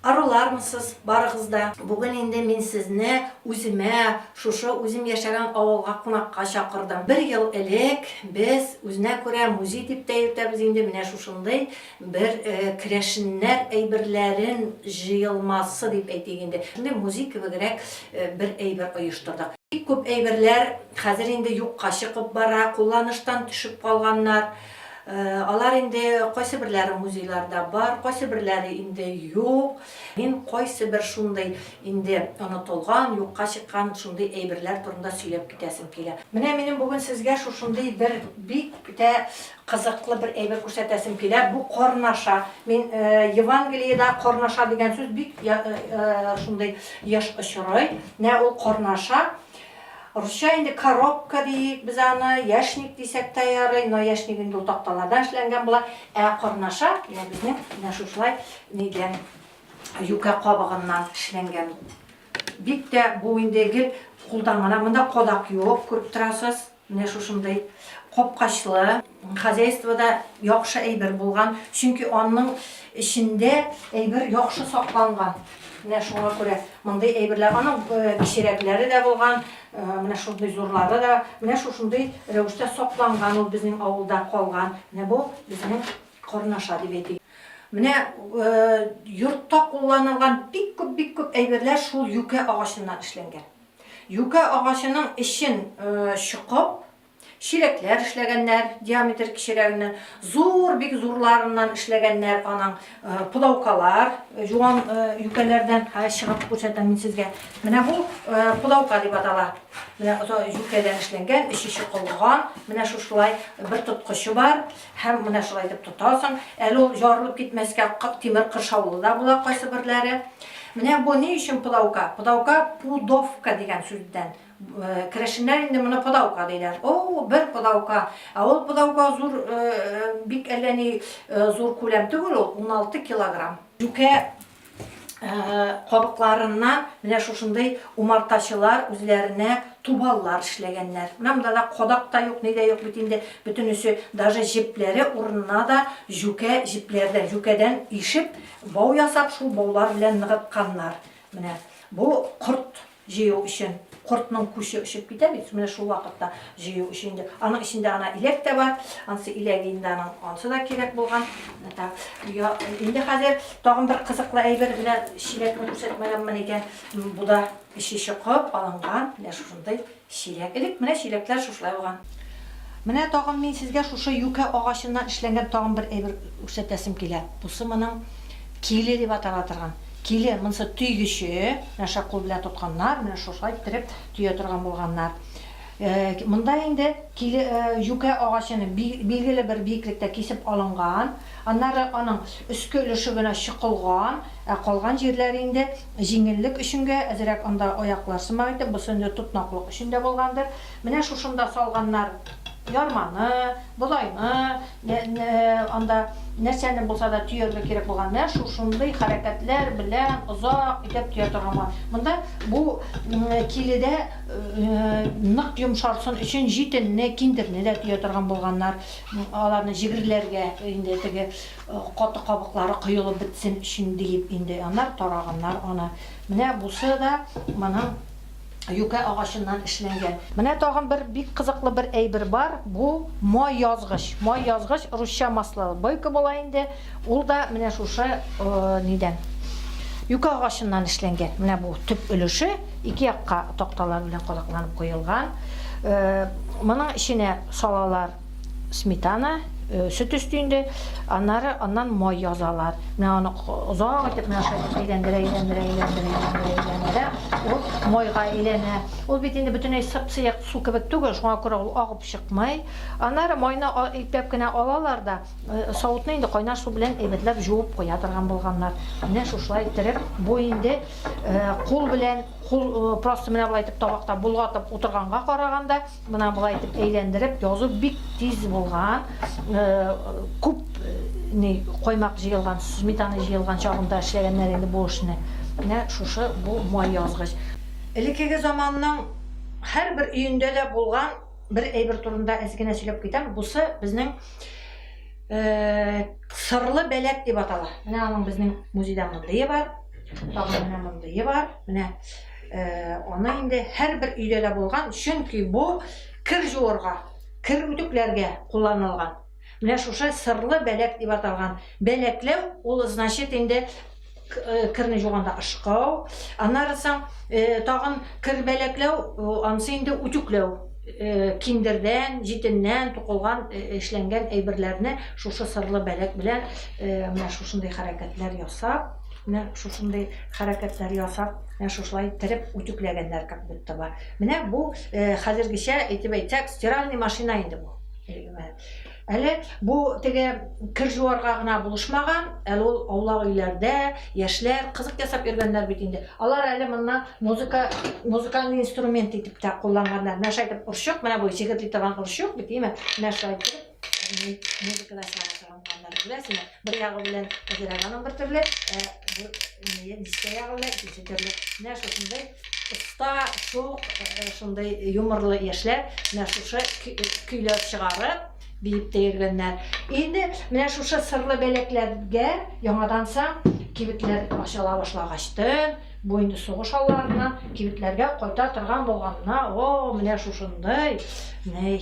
Арулармысыз барыгыз да? Бүген инде мин сезне үземә, шушы үзем яшәгән авылга кунакка чакырдым. Бер ел элек без үзенә күрә музей дип тә йөртәбез инде менә шушындый бер э, керәшеннәр әйберләрен җыелмасы дип әйтик инде. Шундый музей кебегрәк э, бер әйбер оештырдык. Бик күп әйберләр хәзер инде юкка чыгып бара, кулланыштан төшеп калганнар. Алар инде кайсыберләре музейларда бар, кайсыберләре инде юк. Мин кайсыбер шундый инде онытылган, юкка чыккан шундый әйберләр турында сөйләп китәсем килә. Менә минем бүген сезгә шушындый бер бик тә кызыклы бер әйбер күрсәтәсем килә. Бу карнаша. Мин Евангелиедә карнаша дигән сүз бик шундый еш очрый. Менә ул карнаша. Русча инде коробка диик без аны, яшник дисәк тә ярый, но яшник инде ул такталардан эшләнгән була. Ә корнаша, менә безнең менә шушылай нидән, юкә кабыгыннан эшләнгән. Бик тә бу инде гел кулдан гына, монда кадак юк, күреп торасыз, менә шушындый капкачлы. Хозяйствода яхшы әйбер булган, чөнки анның эчендә әйбер яхшы сакланган. Менә шуңа күрә мондый әйберләр, аның кечерәкләре дә булган, менә шундый зурлары да, менә шушындый рәвештә сакланган ул безнең авылда калган. Менә бу безнең карнаша дип әйтик. Менә йортта кулланылган бик күп, бик күп әйберләр шул юкә агачыннан эшләнгән. Юкә агачының эчен чокып, Чиләкләр эшләгәннәр, диаметр кечерәгеннән, зур, бик зурларыннан эшләгәннәр аның пылаукалар, юан юкәләрдән чыгып күрсәтәм мин сезгә. Менә бу пылаука дип атала. Менә юкәдән эшләнгән, эче чокылган, менә шушылай бер тоткычы бар һәм менә шулай итеп тотасың. Әле ул ярылып китмәскә тимер кыршаулы да була кайсы берләре. Менә бу ни өчен пылаука? Пылаука пудовка дигән сүздән. Керәшеннәр инде моны подаука диләр. О, бер подаука. Ә ул подаука зур, бик әллә ни зур күләм түгел ул, уналты килограмм. Юкә кабыкларыннан менә шушындый умартачылар үзләренә тубаллар эшләгәннәр. Менә монда да кадак та юк, ни дә юк бит инде, бөтенесе, даже җепләре урынына да җүкә җепләрдән, җүкәдән ишеп, бау ясап, шул баулар белән ныгытканнар. Менә бу корт Җыю өчен кортның күче очып китә бит, менә шул вакытта җыю өчен инде. Аның эчендә ана иләк тә бар, ансы иләге инде аның, ансы да кирәк булган. Инде хәзер тагын бер кызыклы әйбер белән чиләкне күрсәтмәгәнмен икән. Бу да эче чокып алынган, менә шушындый чиләк. Элек менә чиләкләр шушылай булган. Менә тагын мин сезгә шушы юкә агачыннан эшләнгән тагын бер әйбер күрсәтәсем килә. Бусы моның киле дип атала торган. Киле, монысы төйгече. Менә шушы кул белән тотканнар, менә шушылай иттереп төя торган булганнар. Монда инде киле, җүкә агачыны билгеле бер биеклектә кисеп алынган. Аннары аның өске өлеше генә чокылган, ә калган җирләре инде җиңеллек өченгә әзрәк анда аяклар сымак итеп, бусы инде тотнаклык өчен дә булгандыр. Менә шушында салганнар ярманы, бодайны, анда нәрсәне булса да төяргә кирәк булган, менә шушындый хәрәкәтләр белән озак итеп төя торган булган. Монда бу киледә нык йомшарсын өчен җитенне, киндерне дә төя торган булганнар. Аларны җегерләргә инде теге каты кабыклары коелып бетсен өчен диеп инде аннары тараганнар аны. Менә бусы да моның юкә агачыннан эшләнгән. Менә тагын бер бик кызыклы бер әйбер бар, бу май язгыч. Май язгыч, русча масло, бойка була инде, ул да менә шушы нидән, юкә агачыннан эшләнгән. Менә бу төп өлеше, ике якка такталар белән кадакланып куелган. Моның эченә салалар сметана, э, сөт өсте инде, аннары аннан май язалар. Менә аны озак итеп менә шулай итеп әйләндерә, әйләндерә, әйләндерә, әйләндерә, әйләндерә. Ул майга әйләнә. Ул бит инде бөтенләй сып-сыек су кебек түгел, шуңа күрә ул агып чыкмый. Аннары майны ипләп кенә алалар да, э, савытны инде кайнар су белән әйбәтләп җуып куя торган булганнар. Менә шушылай иттереп, бу инде э, кул белән, кул э, просто менә болай итеп табакта болгатып утырганга караганда, Менә болай итеп әйләндереп язу бик тиз булган. Күп ни каймак җыелган, сметана җыелган чагында эшләгәннәр инде бу эшне. Менә шушы бу май язгыч. Элеккеге заманның һәрбер өендә дә булган бер әйбер турында әз генә сөйләп китәм. Бусы безнең сырлы бәләк дип атала. Менә аның безнең музейда мондые бар. Тагын менә мондые бар. Менә Аны инде һәрбер өйдә дә булган, чөнки бу кер жуырга, кер үтүкләргә кулланылган. Менә шушы сырлы бәләк дип аталган. Бәләкләү ул значит инде керне жуганда ышкау, аннары соң тагын кер бәләкләү, ансы инде үтүкләү. Киндердән, җитеннән тукылган, эшләнгән әйберләрне шушы сырлы бәләк белән менә шушындый хәрәкәтләр ясап, Менә шушындый хәрәкәтләр ясап, менә шушылай иттереп үтүкләгәннәр как будто бы. Менә бу хәзергечә әйтеп әйтсәк, стиральный машина инде бу. Әле бу теге кер жуарга гына булышмаган, әле ул аулак өйләрдә яшьләр кызык ясап йөргәннәр бит инде. Алар әле монда музыка, музыкальный инструмент итеп тә кулланганнар. Менә шайтып орчык, менә бу сихетли торган орчык бит, име? Менә шайтып музыкада сага торган планнар беләсеңме бер ягы белән гераганың бер төрле ә дискә ягы белән икенче төрле менә шушындай оста шук шундай юморлы яшьләр менә шушы көйләр чыгарып биеп тә йөргәннәр инде менә шушы сырлы бәләкләргә яңаданса кибетләр ачыла башлагачтын Бу инде сугыш алларына кибетләргә кайта торган булганына, о, менә шушындый, ней,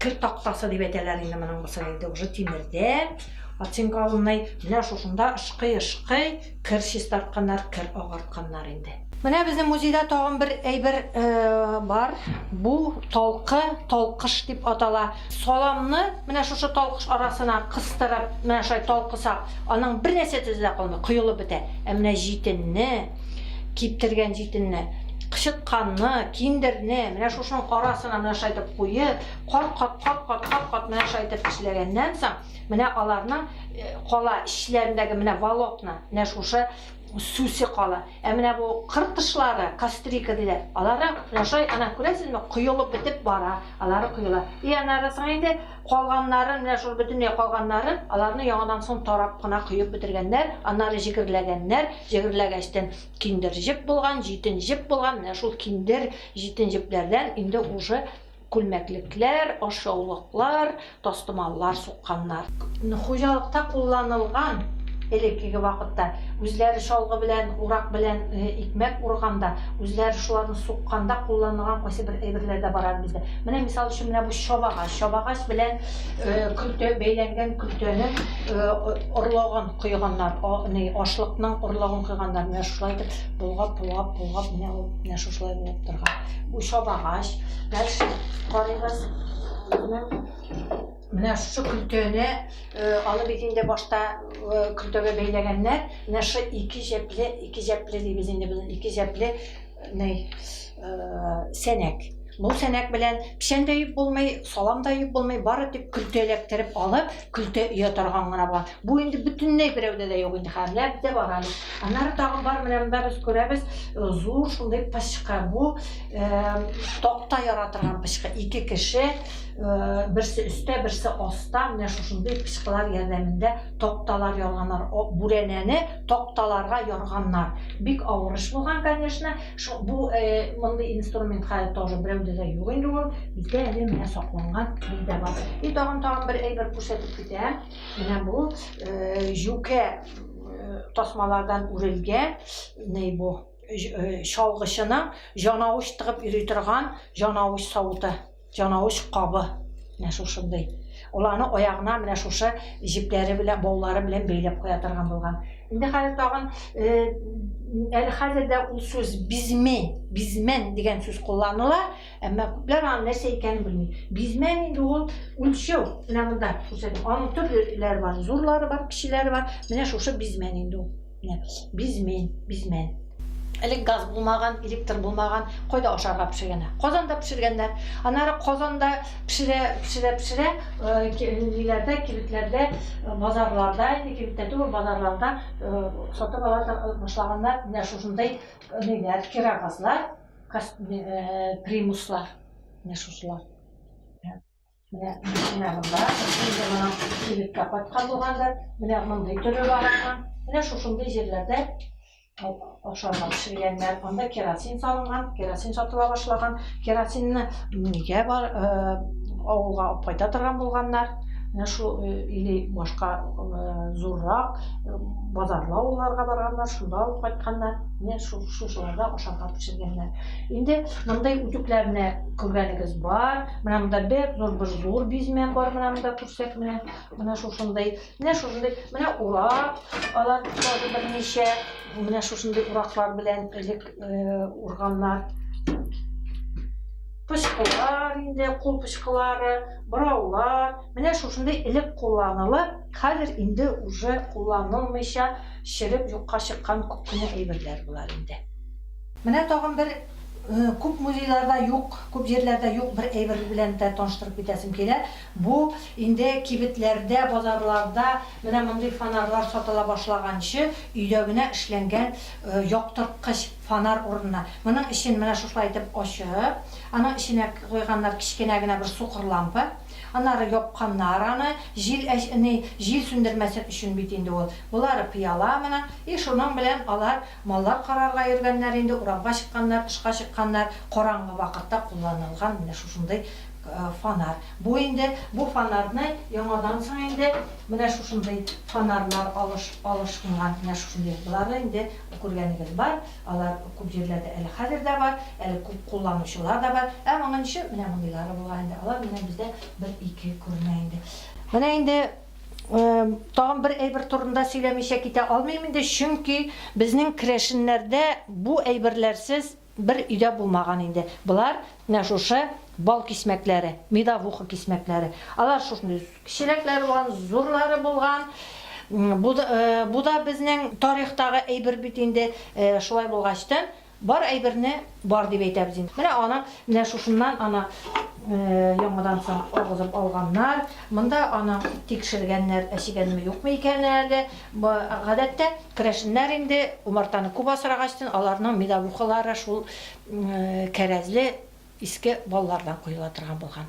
кер тактасы дип әйтәләр инде моның бусы инде уже тимердән, оцинкованный, менә шушында ышкый-ышкый кер чистартканнар, кер агартканнар инде. Менә безнең музейда тагын бер әйбер бар, бу талкы, талкыш дип атала. Саламны менә шушы талкыш арасына кыстырып, менә шулай талкысак, аның бер нәрсә төзе дә калмый, коелып бетә. Ә менә җитенне, киптергән җитенне, кычытканны, киндерне менә шушының арасына менә шулай итеп куеп, кат-кат, кат-кат, кат-кат менә шулай итеп эшләгәннән соң, менә аларның э, кала эчләрендәге менә волокна, менә шушы сүсе кала. Ә менә бу кыр кошлары, кастрика диләр, алары ашай, ана, күрәсезме, коелып бетеп бара, алары коела. И аннары соң инде калганнарын, менә шул бөтенләй калганнарын, аларны яңадан соң тарап кына коеп бетергәннәр, аннары җегерләгәннәр, җегерләгәчтен киндер җеп булган, җитен җеп булган, менә шул киндер, җитен җепләрдән инде уже Күлмәклекләр, ашъяулыклар, тастымаллар сукканнар. Хуҗалыкта кулланылган, элеккеге вакытта, үзләре чалгы белән, урак белән икмәк урганда, үзләре шуларны сукканда кулланылган кайсы бер әйберләр дә бар әле бездә. Менә, мисал өчен, менә бу чабагач. Чабагач белән көлтә, бәйләнгән көлтәнең орлыгын койганнар, ни, ашлыкның орлыгын койганнар. Менә шулай итеп болгап, болгап, болгап, менә ул менә шушылай булып торган. Бу чабагач. Дальше карыйбыз. Менә шушы көлтәне аны бит инде башта көлтәгә бәйләгәннәр. Менә шы ике җәпле, ике җәпле дибез инде буны, ике җәпле ней сәнәк. Бу сәнәк белән печән дә юып булмый, салам да юып булмый, бары тик көлтә эләктереп алып, көлтә өя торган гына була. Бу инде бөтенләй берәүдә дә юк инде хәзер. Ләп дә бар әле. Аннары тагын бар менә монда без күрәбез э, зур шундый пычка. Бу э, такта яра торган пычка. Ике кеше э, берсе өстә, берсе аста. Менә шушындый пычкалар ярдәмендә такталар ярганнар. Бүрәнәне такталарга ярганнар. Бик авыр эш булган, конечно. Шул бу э, мондый инструмент хәзер тоже берәүдә дә юк инде ул. Бездә әле менә сакланган бездә бар. И тагын тагын бер әйбер күрсәтеп китәм. Менә бу э, җүкә э, тасмалардан үрелгән ни бу э, чалгычының җанавыч тыгып йөри торган җанавыч савыты. Чанавыч кабы менә шушындый. Ул аны аягына менә шушы җепләре белән, баулары белән бәйләп куя торган булган. Инде хәзер тагын әле хәзер дә ул сүз бизме, бизмен дигән сүз кулланыла, әмма күпләр аны нәрсә икәнен белми. Бизмен инде ул үлчәү. Менә монда күрсәтәм. Аның төрлеләре бар, зурлары бар, кечеләре бар. Менә шушы бизмен инде ул. бизмен бизмен элек газ булмаган электр булмаган кайда ашарга пешергәннәр казанда пешергәннәр аннары казанда пешерә пешерә пешерә ниләрдә кибетләрдә базарларда инде кибеттә түгел базарларда сатып ала башлаганнар менә шушындай ниләр кирогазлар примуслар менә шушылар Менә машина монда, инде моның кибеткә кайткан булгандыр. Менә мондый төре бар аның. Менә шушындый җирләрдә ашарга пешергәннәр. Анда керосин салынган, керосин сатыла башлаган. Керосинны нигә бар авылга алып кайта торган булганнар? Менә шул или башка зуррак базарлы авылларга барганнар, шунда алып кайтканнар. Менә шул шушыларда ашарга пешергәннәр. Инде мондый үтүкләрне күргәнегез бар. Менә монда бик зур бер зур бизмәк бар, менә монда күрсәк, менә, менә шушындый. Менә шушындый, менә урак, алар тоже берничә, менә шушындый ураклар белән элек э, урганнар. Пычкылар инде, кул пычкылары, бораулар, менә шушындый элек кулланылып, хәзер инде уже кулланылмыйча, шереп юкка чыккан күп кенә әйберләр булар инде. Менә тагын бер күп музейларда юк, күп җирләрдә юк бер әйбер белән дә таныштырып китәсем килә. Бу инде кибетләрдә, базарларда менә мондый фонарьлар сатыла башлаганчы өйдә генә эшләнгән яктырткыч фонарь урынына. Моның эчен менә шушылай итеп ачып, аның эченә куйганнар кечкенә генә бер сукыр лампа. Аннары япканнар аны, җил җил сүндермәсен өчен бит инде ул. Болары пыяла моның, и шуның белән алар Маллар карарга йөргәннәр инде, урамга чыкканнар, тышка чыкканнар, караңгы вакытта кулланылган менә шушындый фонарь. Бу инде, бу фонарьны яңадан соң инде менә шушындый фонарьлар алыш, алышынган, менә шушындый. Боларны инде күргәнегез бар, алар күп җирләрдә әле хәзер дә бар, әле күп кулланучылар да бар. Ә моңынчы менә мондыйлары булган инде, алар менә бездә бер-ике күренә инде. Менә инде Тагын бер әйбер турында сөйләмичә китә алмыйм инде, чөнки безнең керәшеннәрдә бу әйберләрсез бер өйдә булмаган инде. Болар менә шушы бал кисмәкләре, медовуха кисмәкләре. Алар шушындый кечерәкләре булган, зурлары булган. Бу да безнең тарихтагы әйбер бит инде. Шулай булгач та, Бар әйберне бар дип әйтәбез инде. Менә аны менә шушыннан аны яңадан соң агызып алганнар. Монда аны тикшергәннәр, әчегәнме, юкмы икән әле. Гадәттә, керәшеннәр инде умартаны күп асрагачтын, аларның медовухалары шул кәрәзле иске баллардан коела торган булган.